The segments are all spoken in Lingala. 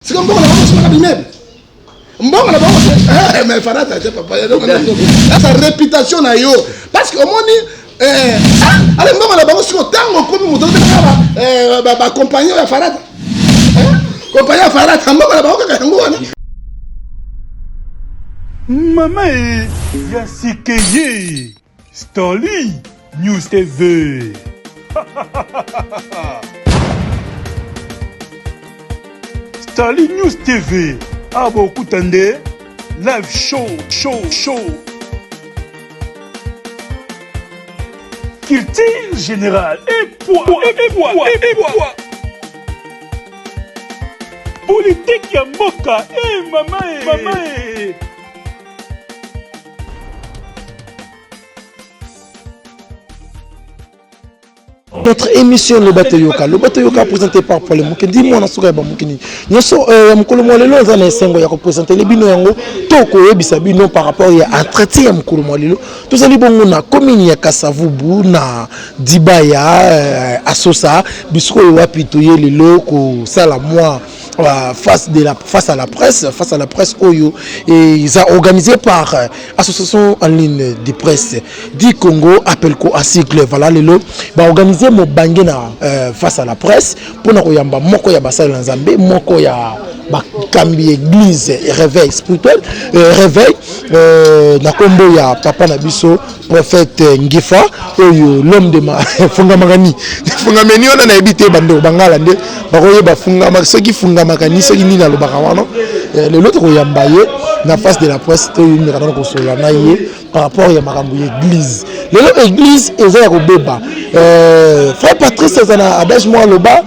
Siko mbongo na bango simaka bimebe. Mbongo na bango eh mais farata je papa. Sa réputation na yo parce que omoni eh ah, ale mbongo na bango siko tango komi moto eh, ba ba compagnie ya farata. Eh, compagnie ya farata mbongo na bango kaka yango wana. Mama e ya sikeye. Starly News TV. Starly News TV. Abo ah, kutande live show show show. Culture générale et poids et poids et poids. Politique ya mboka et eh, mama et eh, mama et eh. notre émission loba toyoka loba toyoka présenté par pole moke ndi mwana suka ya bamoki nini nyonso euh, ya mokolo mwa lelo eza na esengo ya kopresentele bino yango to koyebisa bino par rapport ya entretien ya mokolo mwa lelo tozali bongo na commune ya kasavubu na dibaya euh, asosa bisikoyo wapi toye lelo kosala mwa Euh, face, de la, face à la presse, face à la presse Oyo, et ils ont organisé par euh, association en ligne de presse du Congo, appel quoi à cycle, voilà les lots, bah organisé mon bangena euh, face à la presse pour nous yamba moko ya basal nzambe, moko ya bakambi église réveil spirituel euh, réveil euh, na kombo ya papa na biso prophète ngifa oyo l'homme de ma fungamakani fungameni wana nayebi te bandeko bangala nde bakoyeba fungama soki fungamakani soki nini alobaka wana eh, lelo tokoyamba ye na face de la presse toyindaka nano kosolola na ye par rapport ya makambo ya église lelo église eza ya kobeba eh, frère patrice aza na adage mwa aloba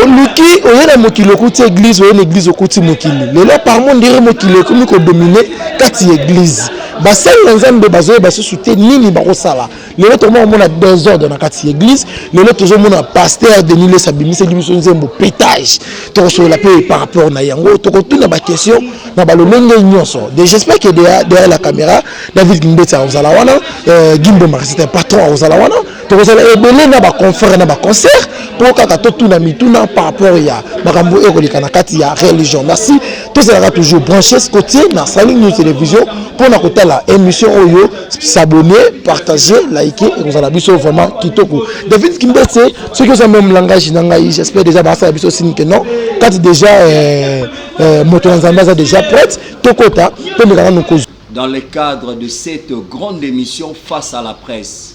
oluki oye na mokili okuti eglize oye na eglize okuti mokili lelo parmo ndire mokili ekomi kodomine kati ya eglize basali na nzambe bazoyeba susu te nini bakosala lelo tokoma komona desordre na kati ya eglize lelo tozomona paster denis les abimiseli biso nzembo petage tokosolola mpe par rapport na yango tokotuna baquestion na balolenge nyonso de j'espère que derrière la caméra david mbetsa ozala wana euh, gimbo marcete patron ozala wana tokozala ebele na baconfere na baconcert mpo kaka totuna mituna par rapport ya makambo oyo ekoleka na kati ya religion merci tozalaka toujours branches cotier na saling new télévision mpo na kotala émission oyo s'abonner partage like ekozala biso vraiment kitoko david kimbese soki oza meme langage na ngai j'espère déjà basala biso sini ke non kati déjà euh, euh, moto na nzambe aza déjà prête tokota tomekaka nokozwa dans le cadre de cette grande émission face à la presse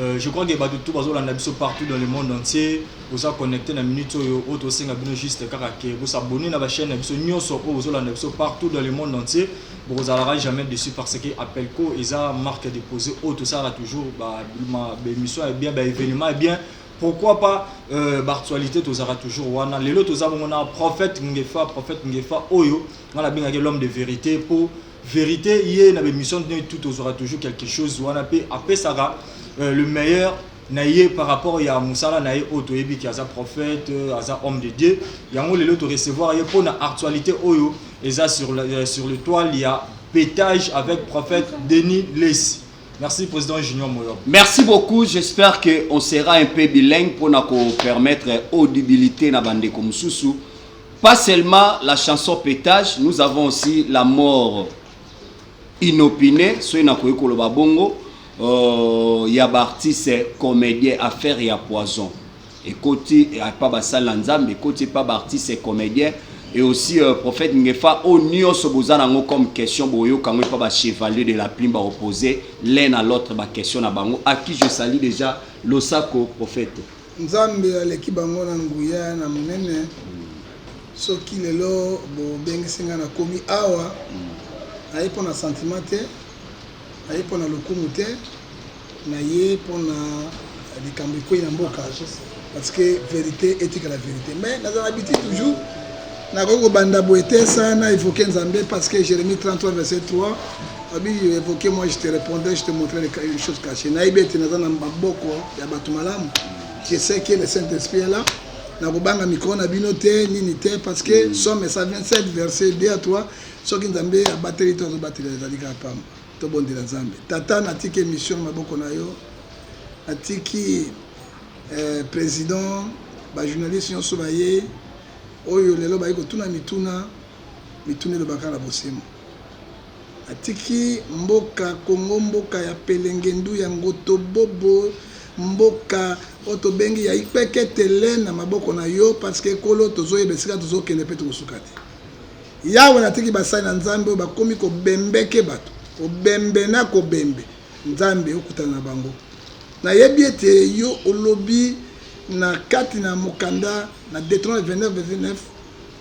Euh, je crois que bato tout bazolanda biso partout dans le monde entier boza connecté na minute oyo oyo tosenga bino juste kaka ke bosabone na bachaîne na biso nyonso oyo bozolanda biso partout dans le monde entier bokozalaka jamais dessus parce que appelco eza marque déposé oyo tosalaka toujours baémission ya bien baévénement ya bien pourquoi pas euh, bartualité tozalaka toujours wana lelo toza bongo na prophète ngefa prophète ngefa oyo nga nabengaki l'homme de vérité mpo verite ye na bemission ne tout tozwaka toujours quelque chose wana mpe apesaka euh, le meilleur na ye par rapport ya mosala na ye oyo toyebi ki aza prophète euh, aza homme de dieu yango lelo torecevoir ye mpo na actualité oyo eza sur, euh, sur le toile ya pétage avec prophète denis lesi Merci Président Junior Moyo. Merci beaucoup. J'espère qu'on sera un peu bilingue pour nous permettre audibilité na bande comme sous Pas seulement la chanson petage, nous avons aussi la mort inopinée, soki nakoki koloba bongo, euh, ya baartiste comédien affaire ya poison ekoti epa basali na nzambe ekoti epa baartiste comédien et aussi euh, prophète ngefa oyo oh, nyonso boza nango comme question boyoka yango epa bachevalier de la plume baopose l'un à l'autre baquestion na bango à qui je salie déjà losako prophète Nzambe aleki bango na nguya na monene soki lelo bobengisi nga na komi awa naye mpo na sentiment te naye mpo na lokumu te naye mpo na likambo ekwei na mboka parce que verite etikala verite mais nazala biti toujours Nakoki kobanda boye te sans na evoquer Nzambe parce que Jeremie 33 verset 3 abi evoquer moi je te répondrai je te montrerai une chose cachée. Nayebi ete naza na maboko ya bato malamu. Je sais que le Saint-Esprit est là. Nakobanga mikro na bino te nini te parce que mm. somme 127 verset 2 à 3 soki Nzambe abateli to azobatela ezali kaka pamba. Tobondela Nzambe. Tata natiki émission na maboko na yo. Natiki eh, président ba journaliste nyonso baye Oyo lelo baye kotuna mituna mituna eloba kaka na bosembo atiki mboka congo mboka ya pelengendu ya ngotobobo mboka oyo tobengi ya ipeketele na maboko na yo parceke kolo tozoyeba esika tozokende mpe tokosuka te yawe natiki basali na nzambe oyo bakomi kobembeke bato kobembe na kobembe Nzambe, okutana na bango. Nayebi ete yo olobi na kati na mokanda na Deuteronome 29, verset 9,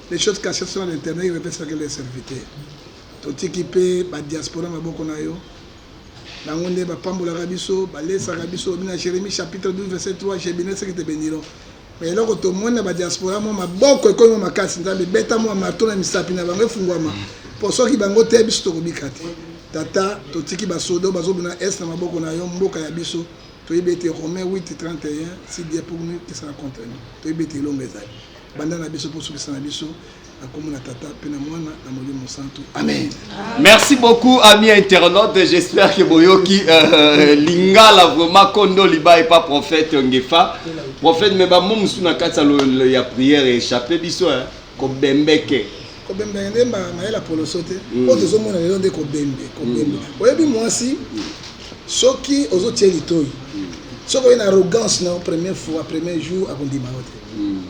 Les choses cachées sont à l'Eternel, il revêt chacun de ses serviteurs. Totiki mpe ba diaspora na maboko na yo. Bango nde bapambolaka biso, balesaka biso. Olobi na Jeremie chapitre 12, verset 3, Je benira ceux qui te beniront. Mais eloko tomoni na ba diaspora mwa maboko ekomi mwa makasi nzambe beta mwa marteau na misapi na bango efungwama po soki bango te biso tokobika te tata totiki ba sodo bazobuna est na maboko na yo mboka ya biso toyebi ete romain 8 31 si dieu pour nous qui sera contre nous toyebi ete elonga ezali banda na biso po sukisa na biso na kombo na tata mpe na mwana na molimo mosantu amen merci beaucoup ami internaute j'espère que boyoki euh, lingala vraiment kondo liba epa prophète ngefa prophète me bamo mosusu na kati ya prière echappe biso eh, kobembeke kobembeke nde mayele ya poloso te mm. oyo tozomona lelo nde kobembe kobembe mm. oyebi mwasi mm. soki ozotie litoi soki oye na arrogance na première fois premier jour akondima yo te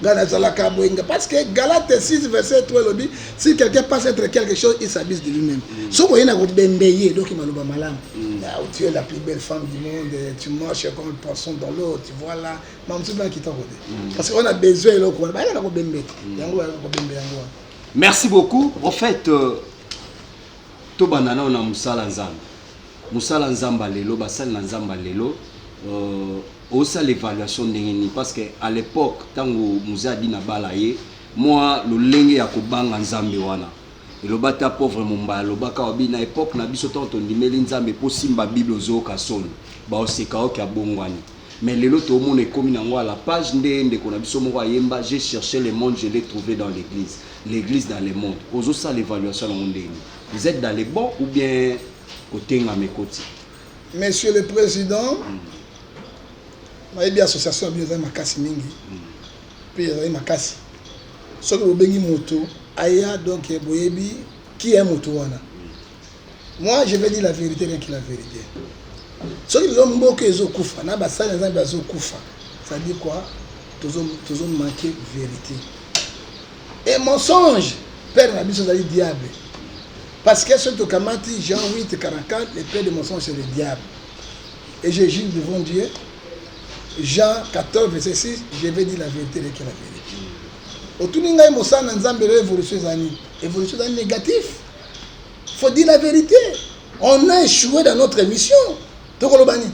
ngai nazalaka mwenga parce que galate 6 verset 3 elobi si quelqu'un passe entre quelque chose il s'abuse de lui-même mm. soki oye na kobembe ye eloki maloba malamu mm. ah, tu es la plus belle femme du monde tu marches comme le poisson dans l'eau tu vois là mamosusu na kitoko te mm. parce que on a besoin eloko wana bayaka na kobembe te yango bayaka kobembe yango wana merci beaucoup prophète euh, tobanda nao na mosala nzambe mosala nzambe lelo basali na nzambe lelo euh, Osala evaluation ndenge nini parce que à l'epoque tango Mzee Adi na bala ye mua lolenge ya kobanga Nzambe wana eloba ata pauvre Mombaya alobaka wa bi na epoque na biso tango tondimeli Nzambe po osimba bible ozooka soni baoseka ok abongwani mais lelo toomona ekomi nango à la page nde ndeko na biso moko ayemba j'ai cherche le monde je l'ai trouve dans l'eglise l'eglise dans le monde ozosala evaluation nango ndenge nini vous etes dans le bon ou bien kotengama ekoti Monsieur le President, nayebi association ya bino ezali makasi mingi mpe ezali makasi. Soki bobengi moto aya, donc boyebi qui est moto wana. Moi, je vais dire la vérité, rien que la vérité. Soki lelo mboka ezokufa na basali na Nzambe bazokufa, ça dit quoi? Tozo tozo manquer vérité. Et mensonge, père na biso ezali diable. Parce que soki tokamati Jean 8, 44, le père de mensonge c'est le diable. Et je juge devant Dieu, Jean 14, verset 6, je vais dire la vérité de la vérité. otuni ngai mosala na nzambe lelo évolution eza nini évolution eza négatif faut dire la vérité on a échoué dans notre émission tokoloba nini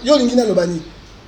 yo olingi naloba nini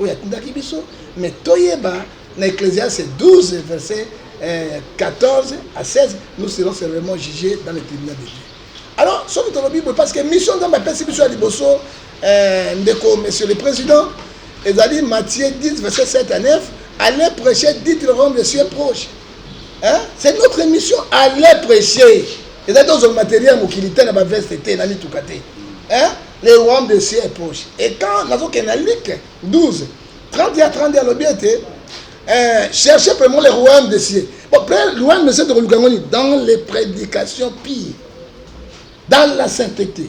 oyo atindaki biso me toyeba na ecclesiaste 12 verset 14 eh, à 16 nous serons sévèrement jugés dans le tribunal de dieu alors soki tolobi boye parce que mission nzambe apesi biso ya liboso eh, ndeko monsieur le président ezali matthieu 10 verset 7 à 9 allez prêcher dites le royaume de cieux proche hein c'est notre émission allez prêcher eza te ozwa matériel ya mokili te na baveste te na mituka te hein le royaume de cieux est proche et quand nazokende na like 12 30 ya 30 alobi ete eh, cherchez premièrement le royaume de cieux bon après le royaume de cieux tokoluka yango nini dans les prédications pire dans la sainteté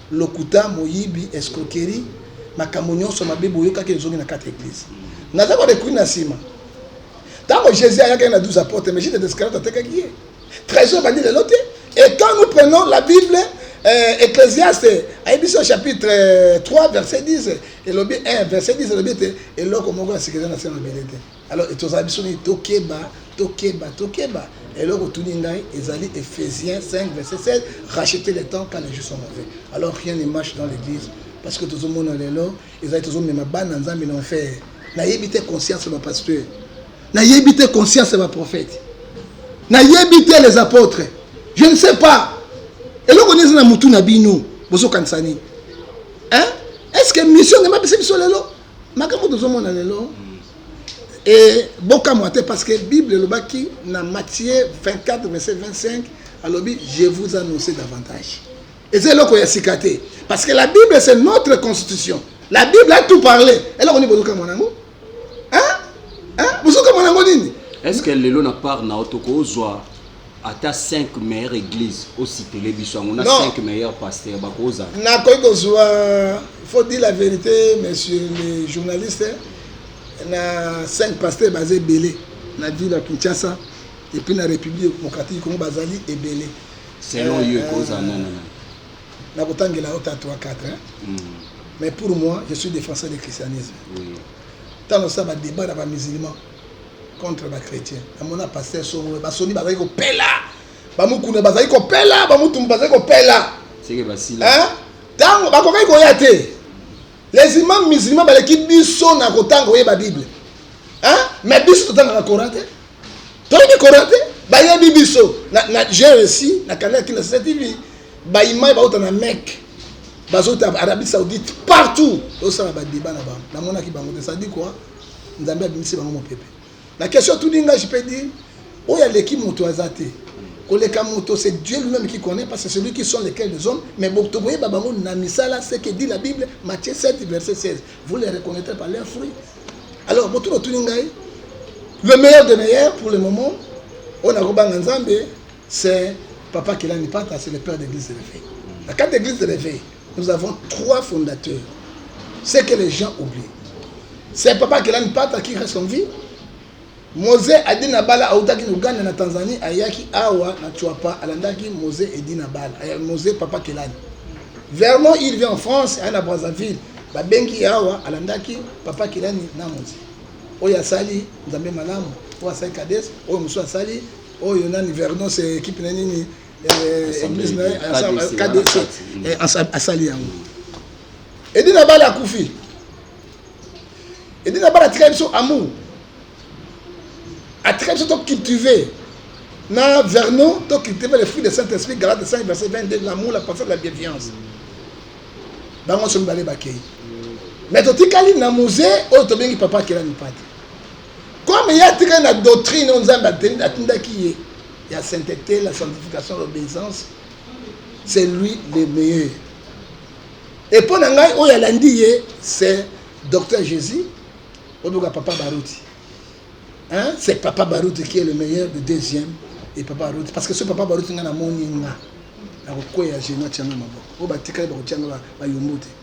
Lokuta, moyibi, escroquerie, makambo nionso mabe boyokaki ezongi na kati ya eglise. Naza ko recourir na sima. Tango Jesus ayakaki na 12 apotres, mais Judas Iscariot atekaki ye. Trésor bandi lelo te. Et quand nous prenons la Bible, euh, Ecclesiaste ayebisi au chapitre 3 euh, verset 10 elobi 1 verset 10 elobi ete eloko moko ya sikeza na se mabele te Alors etozala biso nini tokeba tokeba tokeba eloko otuni ngai ezali Ephésiens 5 verset 16 racheter le temps car les jours sont mauvais alors rien ne marche dans l'église parce que tozomona lelo ezali tozomema bana nzambe na enfer nayebi te conscience ya bapasteur nayebi te conscience ya baprofete nayebi te les apôtres je ne sais pas eloko nini eza na motu na bino bozokanisa nini est ce que mission nde mapesa biso lelo makambo tozomona lelo e bokamwa te parce que bible elobaki na matthieu 24 verset 25 alobi je vous annonce davantage eza eloko ya sika te parce que la bible c'est notre constitution la bible a tout parlé eloko nini bozokamwa nango bozokamwa nango nini est ce que lelo na part na yo tokozwa ata 5 meilleure église ositele biso yango na 5 meilleure pasteur bakozala nakoki kozwa faut dire la vérité monsieur le journaliste na 5 pasteur baza ebele na ville ya kinshasa epuis na république démocratique congo bazali ebele selon yo ekozala euh, nanana nakotangela yo ta 3 4 hmm. mais pour moi je suis défenseur du christianisme ntango oui. osala badébat na bamusulman contre ba chrétien namona pasteur songolo basoni bazali kopela bamukuna bazali kopela bamutumbu bazali kopela ntango bakokaki koya te les imam musulman baleki biso na kotanga oyeba bible mais biso totangaka coran te toyebi coran te bayebi biso na j'ai réussi na kanaki na sasa tv baimai bauta na meke bazota arabie saoudite partout tosala badeba na bango namonaki bango te sadi kua nzambe abimisi bango mopepe la question tout dinga je peux dire oyo aleki moto aza te koleka moto c'est dieu lui-même qui connaît parce que c'est lui qui sont lesquels les hommes mais tokoyeba bango na misala ce que dit la bible matthieu 7 verset 16 vous les reconnaîtrez par leurs fruits alors moto lotuni ngai le meilleur de meilleur pour le moment oyo nakobanga nzambe C'est Papa Kelani Pata, c'est le père d'église de l'éveil. La carte d'église de l'éveil, nous avons trois fondateurs. C'est que les gens oublient. C'est Papa Kelani Pata qui reste en vie. Mose Adina Bala autaki na Ouganda na Tanzanie ayaki awa na Chuapa alandaki Mose Edina Bala eh, Mose Papa Kelani. Vermont il vient en France aye na Brazzaville babengi awa alandaki Papa Kelani na Mose oyo asali Nzambe malamu oyo asali Kades oyo mosusu asali Oyo nani Vernos eh, equipe na nini eh, eglise na KDC eh, asali yango. Edi na bala akufi. Edi na bala atika biso amour. Atika biso to cultiver na Vernon to cultiver les fruits de Saint-Esprit Galates 5 verset 22 l'amour, la patience, la bienveillance. Bango somi bale bakei. Mais totikali na musée oyo tobengi papa akela mipati. comme ye atikali na doctrine oyo nzambe atindaki ye ya sainteté la sanctification l'obéissance c'est lui le meilleur et mpo na ngai oyo alandi ye c'est docteur jésus oyoka papa baruti hein? c'est papa baruti qui est le meilleur de deuxième et papa baruti parce que ce papa baruti ngai namoni nga nakokweya geno atyanga maboko oyo batikali bakotyanga bayombo te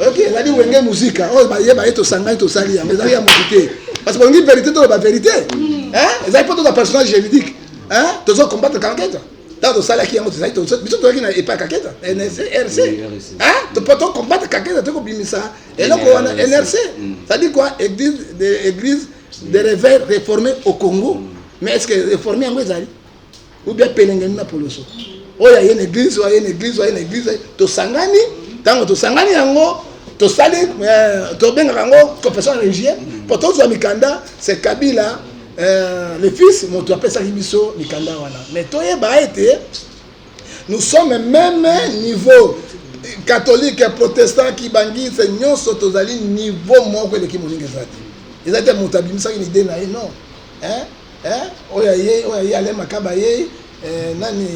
oyoki ezali wenge muzika oyo baye baye tosangani tosali yango ezali ya motu te parce que olingi verité toloba verité ezali mpo toza personnage juridique tozo combattre kanketa ntango tosalaki yango tozali biso toyaki na epai kaketa nrc mpo to combattre kaketa to kobimisa eloko wana nrc cetadi kua église de réveil réformé au congo mais est ce que réforme yango ezali ou bien pelengeni na poloso oyo aye na eglise oyo aye na eglise oyo aye na eglise tosangani ntango tosangani yango tosali euh, tobengaka yango confession religieux mpo tozwa mikanda c'est kabila euh, le fils moto apesaki biso mikanda wana mais toyeba ete nous sommes même niveau catholique protestant kibangise nyonso tozali niveau moko eleki moninga eza te eza te moto abimisaki na ide na ye non hein? Eh, oyo aye oyo aye ale makaba ye eh, nani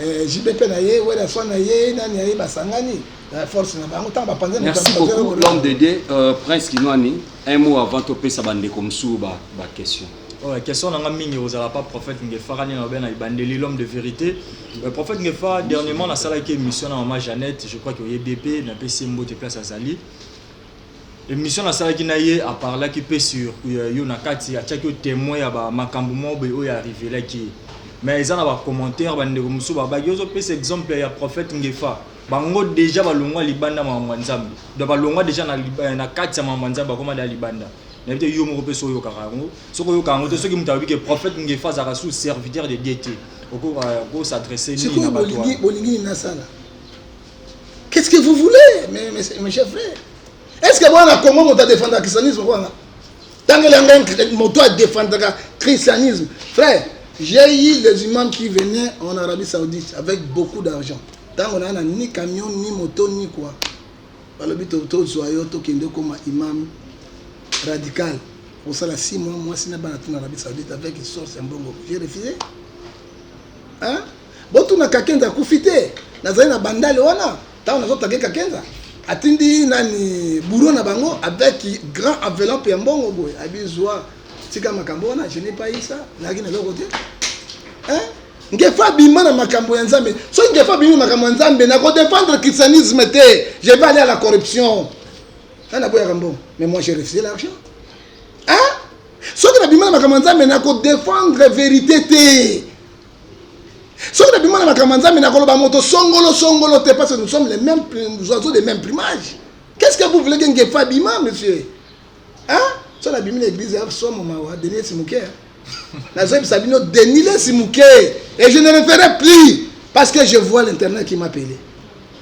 eh, JB pe na ye wela swa na ye nani aye basangani eh, force na bango ntango bapanze moto merci bapanze beaucoup lokola- l'homme de dieu euh, prince kinwani un mot avant topesa bandeko mosusu ba, ba question Ouais, question nanga mingi ozala pas prophète ngefara nini alobi na ebandeli l'homme de vérité Euh, prophète ngefara dernièrement nasalaki émission na mama jeannette je crois que oyebi ye mpe napesi ye mbote place azali Emission na salaki na ye a parlaki pe sur euh, yo na kati atiaki yo temoin ya ba makambo moko boye oyo arrivelaki ye mais eza na ba commentaire ba ndeko mosusu babaki ozo pesa exemple ya prophète Ngefa bango deja balongwa libanda makambo ya Nzambe donc balongwa deja na, euh, na kati ya makambo ya Nzambe bakoma da libanda na bite yo moko pe so oyokaka yango soki oyokaka yango te soki moto alobi ke prophète Ngefa azalaka sous serviteur de Dieu te oko euh, ko s'adresser nini na bato bolingi nini nasala Qu'est-ce que vous voulez, mes, mes, mes chers frères Est-ce que moi, na Congo, moto adefendaka christianisme wana Tango elanga moto adefendaka christianisme. Frère, j'ai eu les imams qui venaient en Arabie Saoudite avec beaucoup d'argent. Tango na ni camion, ni moto, ni quoi. balobi tozwa yo tokende okoma imam radical kosala si mwa mwasi na bana tuna arabie saoudite avec source ya mbongo j'ai refusé hein? Botuna Kakenza akufi te. Nazali na bandale wana ntango nazo tage Kakenza atindi nani bouro na bango avec grand enveloppe ya mbongo boye abi zwa tika makambo wana je n'ai pas eu ça nazalaki na eloko te hein ngefa abima na makambo ya nzambe soki ngefa abimi makambo ya nzambe na kodefendre christianisme te je vais aller à la corruption nga naboyaka mbongo mais moi j'ai refusé l'argent hein soki nabima na makambo ya nzambe na kodefendre verité te soki nabima na makambo ya nzambe nakoloba moto songolo songolo te parce que nous sommes les mêmes oiseaux des mêmes plumages qu'est ce que vous voulez que ngefa abima monsieur hein soki nabimi na église ya somo mawa denis simuke nazoyebisa bino denis le simuke et je ne le ferai plus parce que je vois l'internet qui m'appelait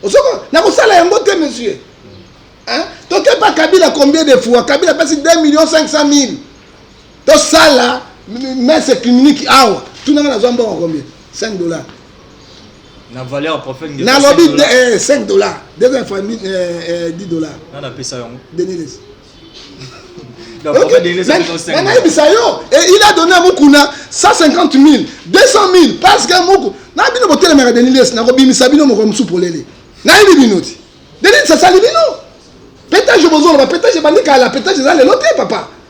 osoko nakosala yango te monsieur hein tokeba kabila combien de fois kabila apesi 2 millions 500 mille tosala messe clinique awa tunanga nazwa mbongo combien 5 dollars na valeur ya prophète ngeso nalobi 5 dollars. eh, 5 dollars deuxième fois mi- eh, eh, 10 dollars Nani apesa yango? denilis Donc, prophète Denis apesa yango 5 dollars. nayebisa yo Eh, il a donné à mukuna 150 000 200 000 parce que muku na bino botelemaka denilis nakobimisa bino moko mosusu polele nayebi bino ti denilis asali bino petage bozoloba petage ebandi kala petage eza lelo te papa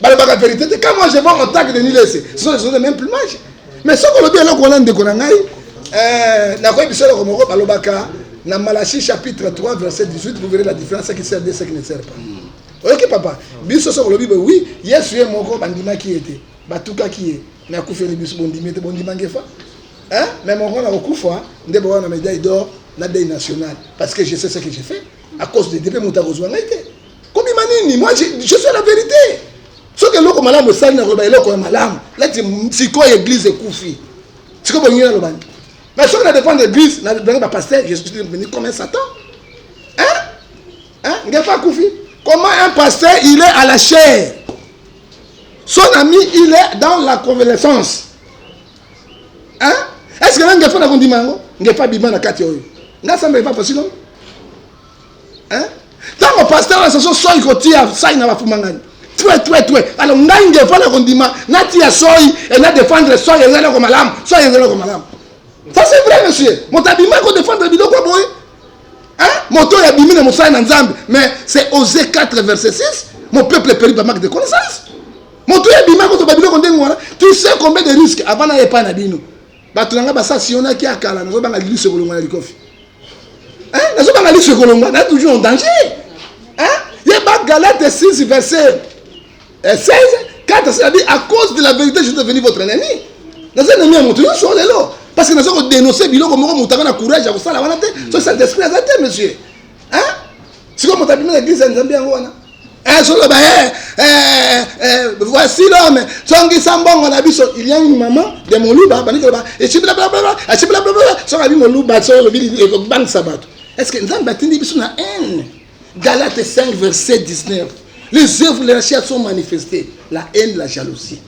balobaka verite te quand moi je vois mon tag de nilese ce sont les choses de même plumage mais soki olobi eloko wana ndeko na ngai euh, nakoyebisa eloko moko balobaka na malachi chapitre 3 verset 18 vous verrez la différence ce qui sert de ce qui ne sert pas hmm. oyoki papa biso soki olobi boye oui yesu ye moko bandimaki ye te batukaki ye me akufeli biso bondimi ye te bondima ngefa mais moko na kokufa nde bowana media idor na dei national parce que je sais ce que je fais à cause de dipe moto akozwa ngai te kobima nini moi je, je suis la vérité soki eloko malamu esali nakoloba eloko ya malamu lati sikoyo eglise ekufi sikoyo bolingi naloba nini mais soki na dépendre église na blangi bapasteur je suis devenu comme un satan hein hein ngefa akufi comment un pasteur il est à la chair son ami il est dans la convalescence hein est ce que na ngefa nakondima yango ngefa bima na kati oyo ngasamba epa pasino hein tango pasteur na saso soyi kotia sai na bafumangani tue tue tue alors ngai nde mpo na kondima natia soyi e na défendre soyi eza eloko malamu soyi eza eloko malamu ça c'est vrai monsieur moto abima kodefendre biloko ya boye moto oyo abimi na mosala na nzambe mais c'est ose 4 verset 6 mon peuple peri ba manque de connaissance moto oyo abima kozoba biloko ndenge wana tu sais combien de risque avant na epai na bino bato na ngai basa sionaki ya kala nazobanga liso ekolongwa na likofi eh, nazobanga liso ekolongwa na toujours en danger eh, ye bagalate 6 verset 16 eh, kata selabi à cause de la vérité je suis devenu votre ennemi naza ennemi ya moto nyonso lelo parce que naza kodenonse biloko moko moto anga na courage ya kosala wana te soki saint esprit aza te monsieur Hein? Siko moto abimi na eglise ya Nzambe yango wana. Eh soloba eh, eh, eh voici l'homme songisa mbongo na biso il y a une maman de moluba bani koloba echibla bla bla echibla bla bla soka bi moluba so lobi ekobangisa bato est ce que nzambe atindi biso na haine galate 5 verset 19 les œuvres de la chair sont manifestées la haine la jalousie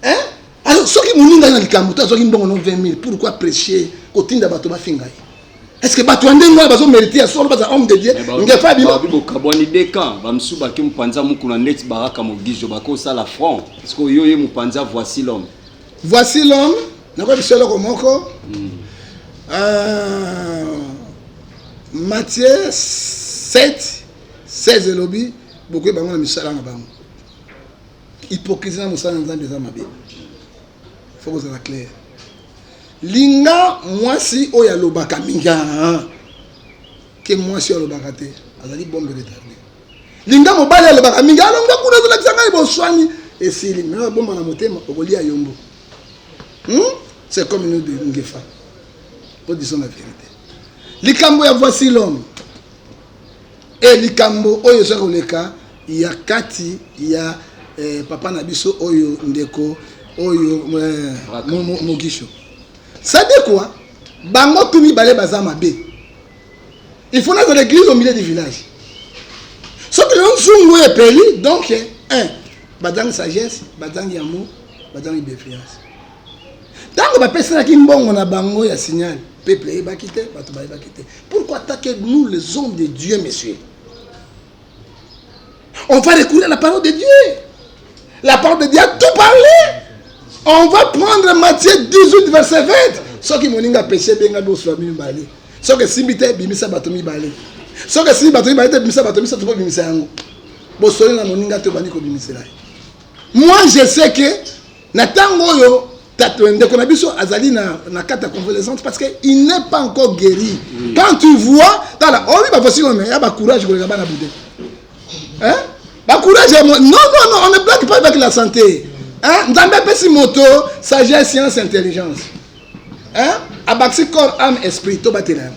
hein alors soki moninga na likambo te azwaki mbongo no 20 000 pourquoi prêcher kotinda bato bafinga ye Est-ce que batu ande ngwa bazo meriter ya solo baza homme de Dieu ngefa bima ba bokabwani de camp ba msu ba ki mupanza mukuna net baraka mogijo ba ko sala front est-ce que yo ye mupanza voici l'homme voici l'homme na ko bisolo ko moko hmm. euh Matthieu 7 16 elobi bokoyeba yango na misala na bango Hypocrisie na mosala na Nzambe eza mabe. Faut kozala clair. Linga mwasi oyo alobaka mingi ah, ah. ke mwasi oyo alobaka te azali bombe retarde. Linga mobali alobaka mingi alonga ah, kuna azolakisa ngai boswani esili me abomba na motema okolia yombo. Hmm? C'est comme nous de Ngefa. Nous disons la vérité. Likambo ya voici l'homme. E likambo oyo eza koleka ya kati ya eh, papa na biso oyo ndeko oyo eh, mogisho sadekwa bango tu mibale baza mabe il faut nazala église au milieu du village soki lelo nzungu oyo epeli donc eh, un bazangi sagesse bazangi amour bazangi bienveillance ntango bapesanaki mbongo na bango ya signal peuple eyebaki te bato bayebaki te pourquoi atake nous les hommes de dieu monsieur on va recourir à la parole de dieu la parole de dieu a tout parlé on va prendre matthieu 18 verset 20 soki moningi apeshe ebenga bosula mibale soki esimbi te ebimisa bato mibale soki esimbi bato mibale te ebimisa bato misato mpo ebimisa yango bosoli na moninga te obandi kobimisela ye moi je sais que Na tango oyo euh, ndeko na biso azali na, na kati ya convalescence parce que il n'est pas encore guéri oui. quand tu vois tala oyebi oh bavosi oyo ya bacourage koleka bana bude hein? bacourage ya non non non on ne blague pas avec la santé hein? nzambe apesi moto sagesse science intelligence hein? abakisi corps ame esprit tobatela yango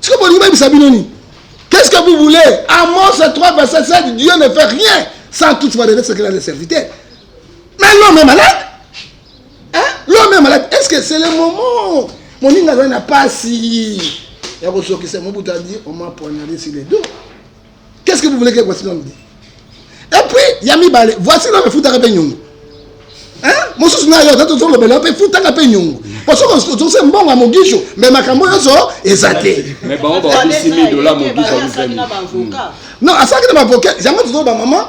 sikoyo bolingi bayebisa bino nini qu'est-ce que vous voulez amos 3 verset 7 dieu ne fait rien sans tout va donner ce qu'il a de serviteur mais l'homme est malade hein? l'homme est malade est-ce que c'est le moment moninga azali na pasi ya kosokisa mobutu adi oma poignarde sur les dos Qu'est-ce que vous voulez que voici l'homme dit Et puis, il y a Mibale, voici l'homme foutaka pe nyongo. Hein Mosusu na yo, tato zolo bela pe foutaka pe nyongo. Parce que on se mbongo à Mogisho, mais makambo yoso ezate. Mais ba on ba 10 000 dollars Mogisho vous aime. Non, asaki na avocat, yango tozolo ba maman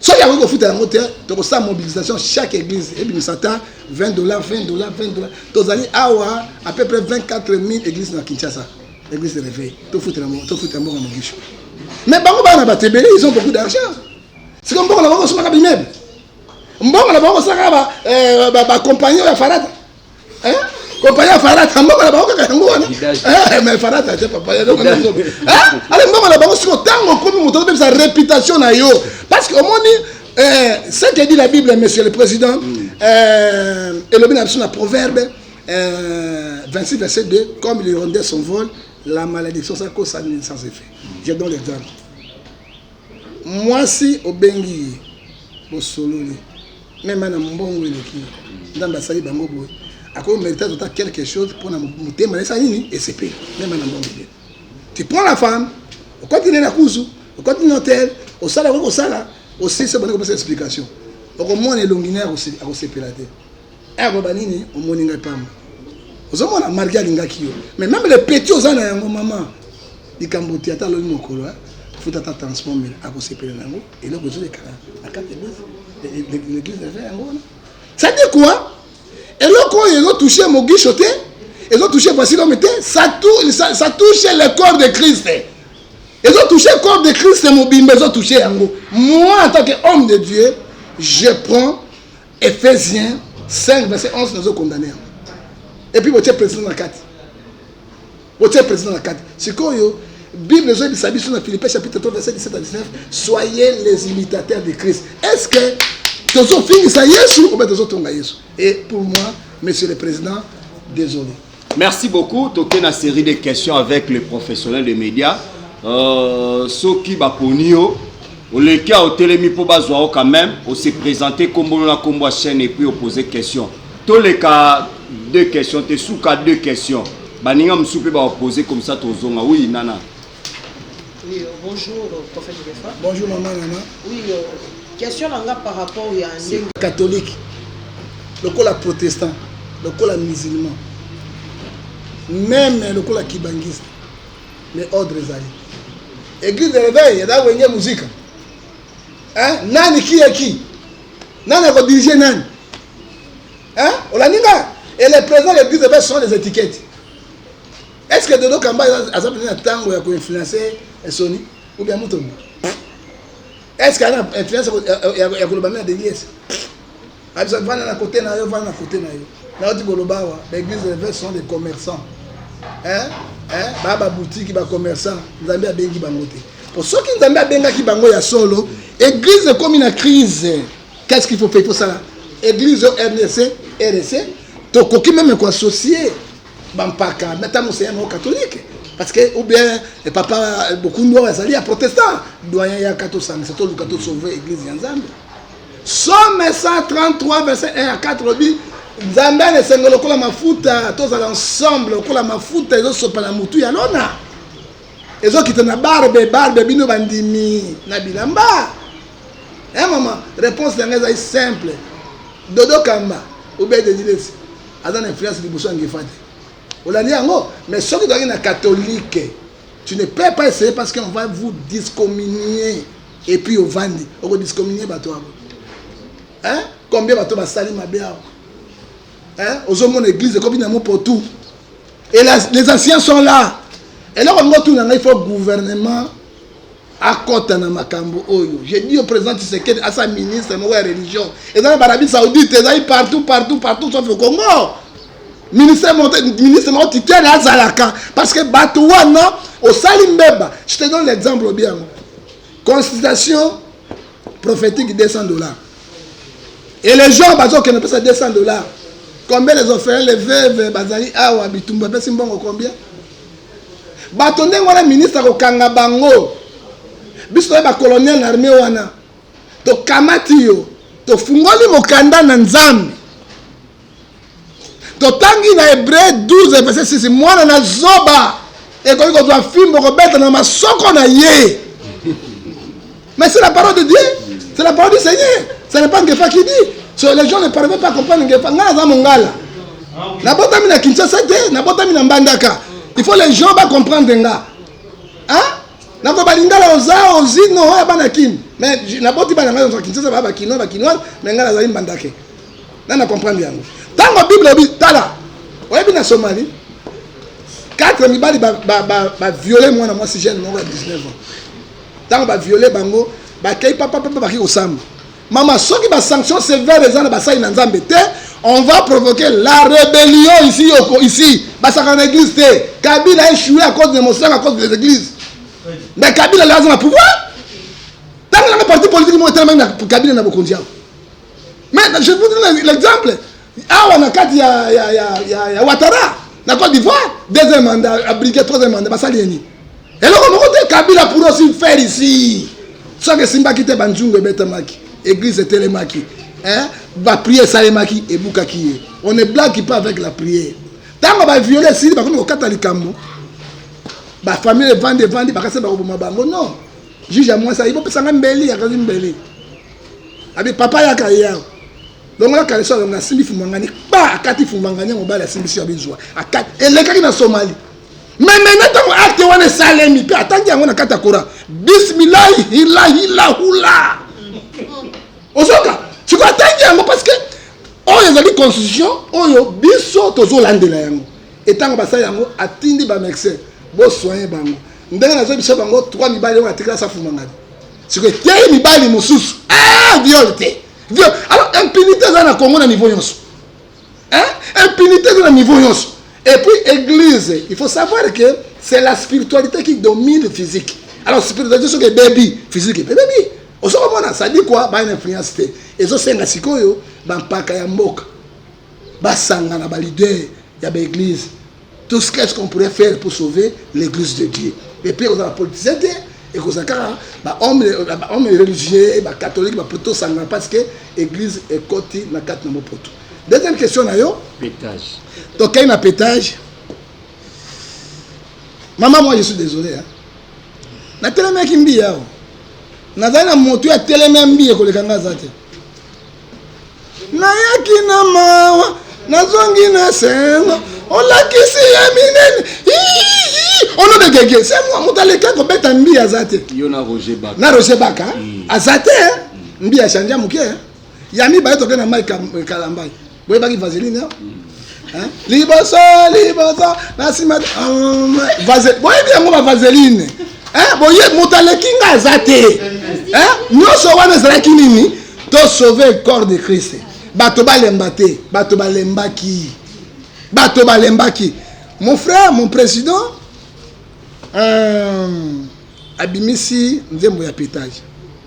soki akoki kofuta yango te tokosala mobilisation chaque église ebimisa ata 20 dollar 20 dollar 20 dollar tozali awa à peu près 24 000 église na kinshasa église de réveil tofutela mboka mogisho mais bango bana bato ebele ils ont beaucoup d'argent siko mbongo na bango kosomaka bimebe mbongo na bango kosalaka bacompagnie oyo ya farata Eh? Compagnie ya Farata, mbongo na bango kaka yango wana. Eh, mais Farata atie papa ya donc na nzobe. Eh? Ale mbongo na bango siko tango okomi moto obebisa réputation na yo. Parce que omoni eh, ce que dit la Bible, monsieur le président, mm. eh, elobi na biso na proverbe eh, 26 verset 2, comme l'hirondelle s'envole, la malédiction ça cause ça sans effet. Je donne l'exemple. Muasi obengi ye bosololi meme na mbongo eleki nzambe asali bango boye ako merite azota quelque chose mpona motema na esali nini esepeli meme na mbongo eleki tu prends la femme okoti ne na kuzu okoti na hotel osala okoki kosala osisi obandi kopesa explication okomona elongi naye akosepela te Eh baba nini omoni ngai pamba ozomona marge alingaki yo mais meme le petit oza na yango mama likambo te ata alobi mokolo eh, afuta ata transport mele akosepela na yango eloko ezolekana na kati l'église eza yango wana sadi kua eloko oyo ezotouche mogisho te ezotouche vasilome te ça touche le corps de christ ezotouche corps de christ mobimba ezotouche yango moi en tant que homme de dieu je prends Ephesiens 5 verset 11 nazo condamner yango. Et puis botie président na kati. Botie président na kati. Sikoyo Bible ezoyebisa biso na Philippiens chapitre 3 verset 17 à 19, soyez les imitateurs de Christ. Est-ce que tozofingisa Yesu ou bien tozotonga Yesu? Et pour moi, monsieur le président, désolé. Merci beaucoup. Toke na série de questions avec les professionnels de médias. Euh, soki baponi yo oleki a otelemi mpo bazwa yo quand même ose présente kombolo na kombo ya chaîne epuis opose question toleka deux questions te suka deux questions baninga mosusu mpe baopose comme ça tozonga oui nana Oui, euh, bonjour, euh, prophète Gefa. Bonjour, maman Nana. Oui, euh, question nanga par rapport ya ndenge catholique lokola protestant lokola musulman meme lokola kibangiste mais ordre ezali église de réveil eza wenge muzika hein? nani ki ya ki nani akodirige nani hein? olandi nga et les président de l'église de réveil sont les étiquettes Est-ce que Dodo Kamba aza mpenza na tango ya ko influencer eh, Sony ou bien Mutombo? Est-ce que ana influence ya koloba mena Delies? Abisa vana na côté na yo, vana na côté na yo. Na oti koloba awa, ba églises révèles sont des commerçants. Hein? Hein? Ba ba boutique ba commerçants, Nzambe abengi bango te. Po soki Nzambe abengaki bango ya solo, église ekomi na crise. Qu'est-ce qu'il faut faire pour ça? Église RDC, RDC, tokoki meme ko associer bampaka na ntango mosusu ya moko katolike parce que ou bien eh, papa eh, bokundu oyo azali ya protestant doyen yaka tosangisa toluka tosauve église ya nzambe somme 133 verset 1 ya 4 lobi nzambe ana esengo lokola mafuta tozala ensemble lokola mafuta ezosopa na motu ya lona ezokita na barbe barbe bino bandimi na bilamba e eh, mama réponse na ngai ezali simple dodo kamba obe dedilesi aza na influence liboso ya ngefa te olandi yango mais soki ozalaki na catholique tu ne peux pas essayer parce qu'on va vous discommunier et puis ovandi okodiscommunier bato yango hein? combien bato basali mabe awa hein? ozomona église ekomi na mopo tout et la, les anciens sont là eloko yango tuna ngai faut gouvernement akota na makambo oyo je dis au président Tshisekedi asa ministre moko ya religion eza na barabi saoudite ezali partout partout partout sauf au Congo ministre ministre moko titele azalaka parce que bato wana osali mbeba je te donne l'exemple obi yango consultation prophétique 200 dollars et les gens bazokende pesa 200 dollars combien les orphelins les veuves bazali awa bitumba apesi mbongo combien Bato ndenge wana ministre akokanga bango. Biso toye ba colonel na armee wana tokamati yo tofungoli mokanda na Nzambe totangi na Hebreu 12 verset 6 mwana na zoba ekoki kozwa fimbo kobeta na masoko na ye Mais c'est la parole de Dieu, c'est la parole du Seigneur. Ce n'est pas Ngefa qui dit. So, les gens ne parviennent pas à comprendre Ngefa. Nga aza mongala. Nabotami na Kinshasa te, nabotami na Mbandaka. Il faut les gens ba comprendre nga. Hein? Nako balingala oza ozino oya bana kin. Mais naboti bana nga oza Kinshasa ba ba kinois ba kinois, mais nga azali Mbandake. Na na comprendre yango. Tango Bible bi tala. Oyebi na Somalie quatre mibali ba, ba, ba, ba viole mwana mwasi jeune moko ya 19 ans tango ba viole bango bakei papa papa baki kosamba mama soki ba sanction sévère eza na basali na nzambe te on va provoquer la rébellion ici yoko ici basaka na église te kabila a échoué à cause de mosaka à cause des églises mais kabila le aza na pouvoir ntango nanga parti politique moko etelemaki na kabila na bokonzi yango mais je vous donne l'exemple awa na kati ya, ya, ya, ya, ya watara na cote d'ivoire deuxième mandat abrike troisième mandat basali ye nini eloko moko te kabila pour aussi faire ici soki esimbaki te banzungu ebetamaki église etelemaki bapriere esalemaki ebukaki ye on ne blague pas avec la prière ntango baviole esili bakomi kokata likambo bafamile evandi evandi bakasi bakoboma bango non juge ya mwasi ayi bopesa ngai mbeli akazi mbeli abi papa yaka ye awa longola kalesa longola asimbi fumangani ba akati fumangani ya mobali asimbisi ya bizwa akati elekaki na somali memena ntango akte wana esalemi mpe atangi yango na kati ya kora bismilahi hilahilahula ozoka sikoyo atangi yango parce que oyo ezali constitution oyo biso tozolandela yango etango basali yango atindi bamexe bosoye bango ndenge nazoyebisa bango 3 mibali oyo atikala safumangani sikoyo etei mibali mosusu ah, viole te Dieu, alors impunité eza na Congo na niveau yonso. Hein? Impunité eza na niveau yonso. Et puis église, il faut savoir que c'est la spiritualité qui domine le physique. Alors spiritualité soki ebebi, physique ebebi. Ozokomona ça dit quoi? Ba influence te. Ezosenga sikoyo ba mpaka ya mboka. Basangana ba leader ya ba église tout ce qu'est-ce qu'on pourrait faire pour sauver l'église de Dieu et puis aux politiciens te et aux akara bah homme bah, bah, homme religieux bah catholique bah plutôt ça n'a parce que église est côté na quatre na poto deuxième question na yo pétage donc quand a pétage maman moi je suis désolé hein na tellement qui mbi yao nazali na moto ya tellement mbi et koleka ngaza te nayaki na mawa nazongi na sengo olakisi ye minene ono de gege se mwa moto aleki akobeta mbi aza te na roger baka mm. aza te mm. mbi achange moke ya mibale toke na mai kalambai boyebaki vaseline mm. Hein? liboso liboso na nsima euh, boyebi yango bavaseline hein? boye moto aleki nga aza te hein? nyonso wana ezalaki nini to sauve corps de christ bato balemba te bato balembaki bato balembaki mon frère mon président euh, abimisi nzembo ya petage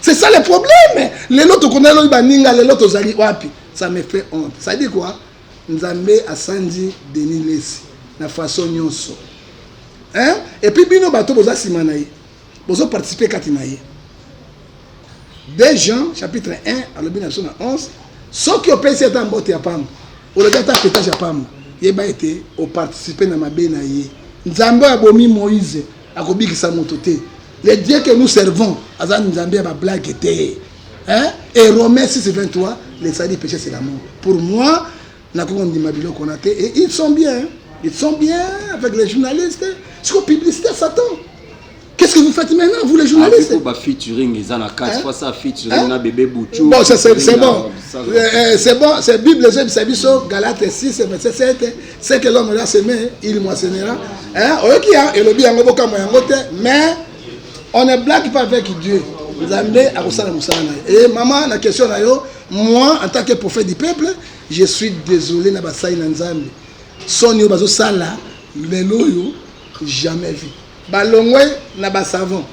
C'est ça le problème. Lelo tokona lobi baninga lelo tozali wapi? Ça me fait honte. Ça dit quoi? Nzambe asandi Denis Lessi na façon nyonso. Hein? Et puis bino bato boza sima na ye. Bozo participer kati na ye. Des gens chapitre 1 alobi na biso na 11 soki opesi ata mbote ya pamba olobi ata petage ya pamba yeba ete oparticipe na mabe na ye nzambe oyo abomi moise akobikisa moto te le dieu que nous servons aza nzambe ya bablague te hein? et romain 6 23 le sali péché c'est la mort pour moi nakoki kondima biloko na te et ils sont bien hein? ils sont bien avec les journalistes siko publicité ya satan Qu'est-ce que vous faites maintenant, vous les journalistes ah, featuring, ils en a quatre fois ça, featuring, hein? na bébé Bouchou. Bon, c'est bon. Euh, euh, c'est bon, c'est Bible, c'est Bisso, Galate 6, verset 7. ce que l'homme l'a semé il moissonnera hein oyoki ya elobi yango bokamwa yango te mais on ne blague pas avec Dieu nzambe akosala mosala na ye e mama na question na yo moi en tant que prophète du peuple je suis désolé na basali na nzambe soni oyo bazosala lelo oyo jamais vu Balongwe na ba savon.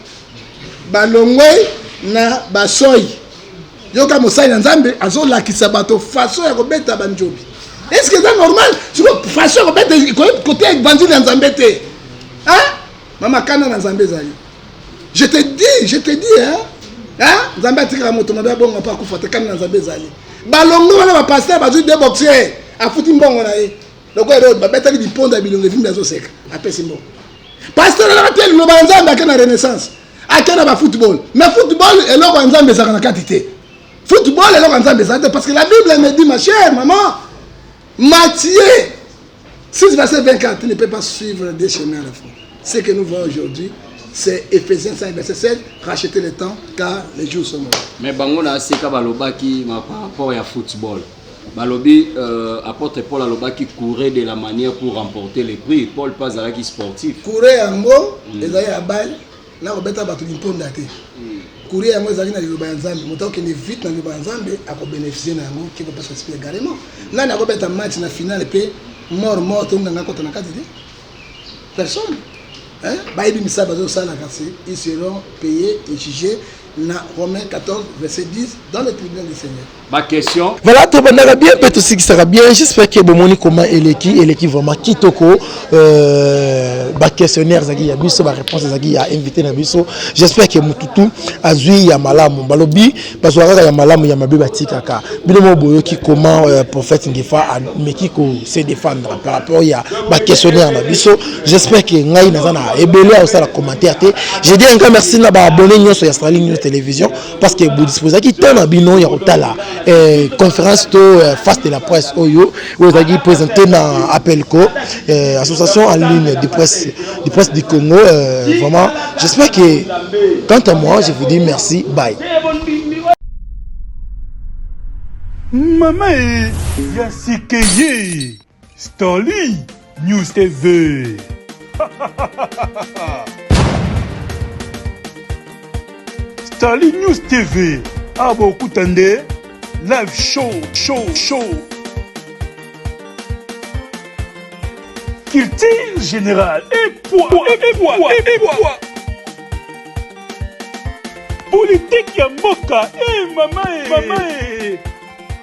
Balongwe na ba soyi. Yoka mosali na Nzambe azolakisa bato façon ya kobeta banjobi. Est-ce que c'est normal? Siko façon ya kobeta ekoki koteya evangile ya Nzambe te. Hein? Mama kana na Nzambe ezali. Je te dis, je te dis hein. Hein? Nzambe atikaka moto mabe abongo mpe akufa te kana na Nzambe ezali. Balongwe wana ba pasteur bazwi de boxer afuti mbongo na ye. lokola eloko babetaki biponda ya bilongi vimbi azoseka apesi mbongo pasteur alaka te liloba ya nzambe ake na renaissance ake na bafootball mais football eloko ya nzambe ezalaka na kati te football eloko ya nzambe ezala te parce que la bible me dit ma chère maman matier 6 verset 24 tu ne peux pas suivre des chemins à la fois ce que nous voyons aujourd'hui c'est Ephésiens 5, verset 7, rachetez le temps car les jours sont mauvais. Mais bango na aseka balobaki par rapport ya football. Balobi euh, apotre Paul alobaki courir de la manière pour remporter le prix. Paul pas alaki sportif. Courir yango mm. ezali ya bali na kobeta bato limponda te. Mm. Courir yango ezali na liloba ya Nzambe. Moto akende vite na liloba ya Nzambe akobeneficie na yango qui peut pas s'expliquer également. Nani akobeta match na finale pe mort mort to nganga kota na kati te. Personne. Hein? Bayebi misala bazosala kasi ils seront payés et jugés Na Romains 14, verset 10, dans le tribunal du Seigneur. Ba question. Voilà, tobandaka bien mpe tosikisaka bien. J'espère que bomoni comment eleki eleki vraiment kitoko. Euh, ba questionnaire ezalaki ya biso, ba réponse ezalaki ya invité na biso. J'espère que mututu azwi ya malamu. Balobi bazwa kaka ya malamu ya mabe batikaka. Bino mo boyoki comment euh, prophète Ngefa ameki ko se défendre par rapport ya ba questionnaire na biso. J'espère que ngai naza na ebele ya kosala commentaire te. Je dis encore merci na ba abonnés nyonso ya Starling News Television parce que vous disposez ki temps na bino ya kotala eh, conférence to eh, face de la presse oyo oyo ezalaki présenté na APELCO eh, association en ligne de presse de presse du Congo eh, vraiment j'espère que quant à moi je vous dis merci bye. Maman, il y a ce que Starly News TV. Starly News TV. Abo ah, kutande live show show show. Culture générale et poids et poids et poids. Politique ya mboka et eh, mama et eh, mama et eh.